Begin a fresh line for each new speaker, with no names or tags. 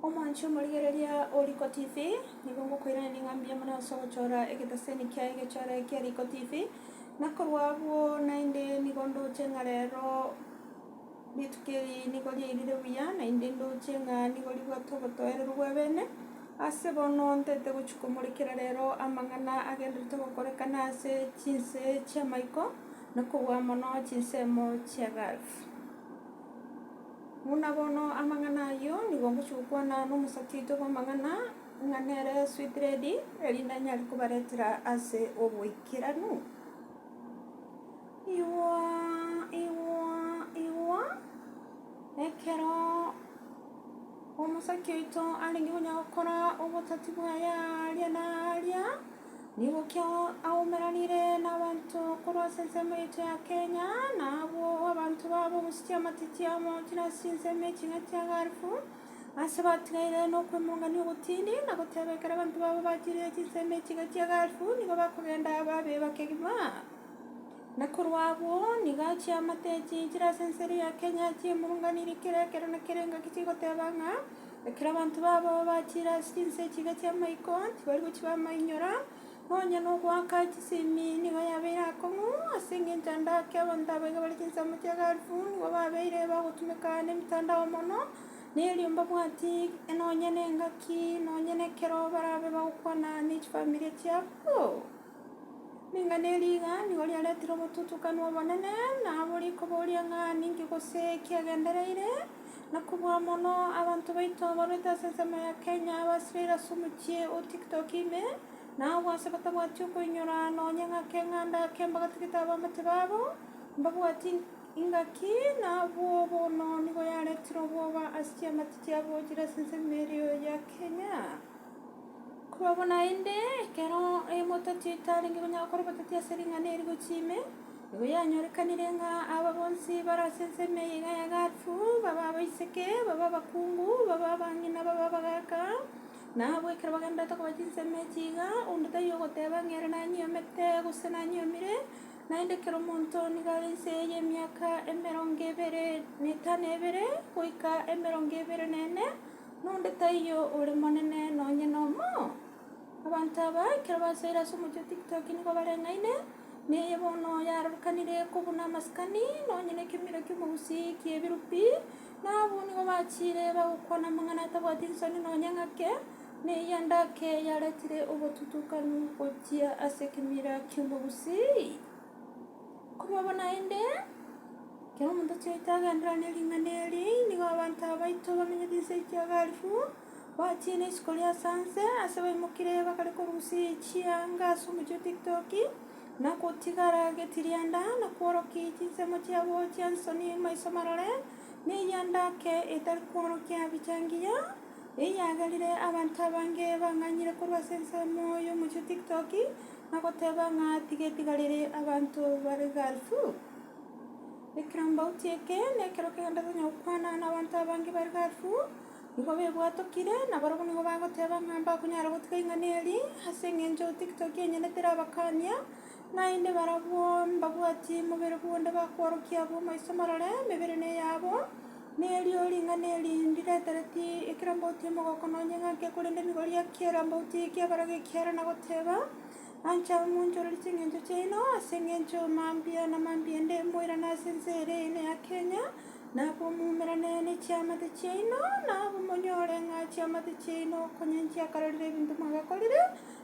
Omoanchie omorigereria o Riiko TV, nigo ngokoiraneria ng'a mbuya mono ase ogochora egeteseni kia Egechore kia Riiko TV, na korwa abwo naende nigo ndoche ng'a rero rituko eri nigo riairire buya, naende ndoche ng'a nigo ribwate obotoereru bw'ebeene. Ase bono ntete gochia komorekera rero amang'ana agendererete gokorekana ase chinse chi'amaiko, na kobua mono chinsemo chia Gulf. Buna bono amang'ana ayio nigo gochukwana nomosatiito bw'amang'ana ng'a nere Sweet Lady, erinde anyare kobaretera ase oboikeranu. Igwa, igwa, igwa, ekero omosake oito arenge konya gokora obotati bwaye aaria na aaria. Nigokio aumeranire nabanto korwa ase ensemo yaito ya Kenya, na abwo abanto babo gosutia amatiti amo chire ase chinsemo eching'a chia Gulf, ase batigaire nokwemongania ogotindi, na goteba ekero abanto babo bachirire chinsemo eching'a chia Gulf nigo bakogenda babe bakegima. Na korwa abwo nigo achia amatechi chire ase ensemo ya Kenya achia emurunganirie kera ekero na kera engaki chigoteba ng'a. Ekero abanto babo bachire ase chinse echiga chi'amaiko, tibari gochia bamainyora, nonya nogoaka chisemi nigo yabeire akong'u, ase engencho ande ake abanto aba iga bare chinsemo chi'aga alifu, nigo babeire bagotumeka nemitandao mono, na erio mbabwati nonya nengaki, nonya nekero barabe bagokwana ne chifamilia chiabo. Ning'ana ye rigani oria aretire omotutukanio obonene, na abo riko boria ng'a ninki gose kiagendereire, na kobua mono abanto baito abarwete ase ensemo ya Kenya abasirire ase omochie o TikTok ime, na agwo ase batabwati okoinyora nonya ng'a keng'anda kemba gatagete abamate babo, mbabwati ingaki, na abwo bono nigo yaretire obwoba ase chiamate chiabo chire ase ensemo erio ya Kenya. Korwa bo naende, ekero emotati etarenge konyara gokora obotati ase ring'ana eri gochia ime, nigo yanyorekanire ng'a aba bonsi bare ase ensemo eye iga ya Galfu, babe abaiseke, babe abakungu, babe abang'ina, babe abagaaka, na abwo ekero bagendererete koba chinsemo echi iga, onde taiyo ogoteba ng'a ere nanyiomete, gose nanyiomire, naende kera omonto nigo are inse eye y'emiaka emerongo ebere na etano ebere, goika emerongo ebere na ene. Nonde taiyo ore monene nonye nomo. Abanto aba ekero basoire ase omochie o Tiktok nigo bareng'aine, neye bono yaarorokanire kobuna amasikani nonye nekemiro ki'omogusii ki'ebirubi, na abwo nigo bachiire bagokwana amang'ana atabwati nsoni nonye ng'ake, na eyi endake yaretire obotutukanu gochia ase ekemira ki'omogusii. Komobua naende, ekero omonto achiete agenderera ne ring'ana eri, nigo abanto aba baito bamenyete inse ya Kiogaalifu, bachire ne isiko ria Sanse, ase baimokire bakare korusia chianga ase omochie o Tiktoki, na gotigara getirianda, na kworokia chinsemo chiabo chi'ensoni maiso marore, ne eyiandake etari kworokia bicha engiya. Eyaagerire abanto abange bang'anyire korwa ase ensemo y'omochie o TikTok na goteba ng'a tiga etigari ria abanto bare garibu. Ekerambauti eke nekero kegento tonya gokwana na abanto abange bare garibu, nigo bebwatokire na barabwo nigo bagoteba ng'a mbakonyara gotiga ing'ana eri ase eng'encho TikTok enyene terabakania. Naende barabwo mbabwatie mobere bw'onde bakworokia abwo maiso marore emebere neyabo, na erio ring'ana eri ndiretereti ekero mbauti omogoko nonye ng'ake korende nigo riakiera mbauti ekiabera gekiara na goteba, Ancha moonchorerie chingencho chiaino ase engencho mambia na mambia nde moirane ase ense ere eene ya Kenya, na abwo moumerane ne chiamate chiaino, na abwo monyore ng'a chiamate chiaino konya nchiakarorire ebinto mwagakorire,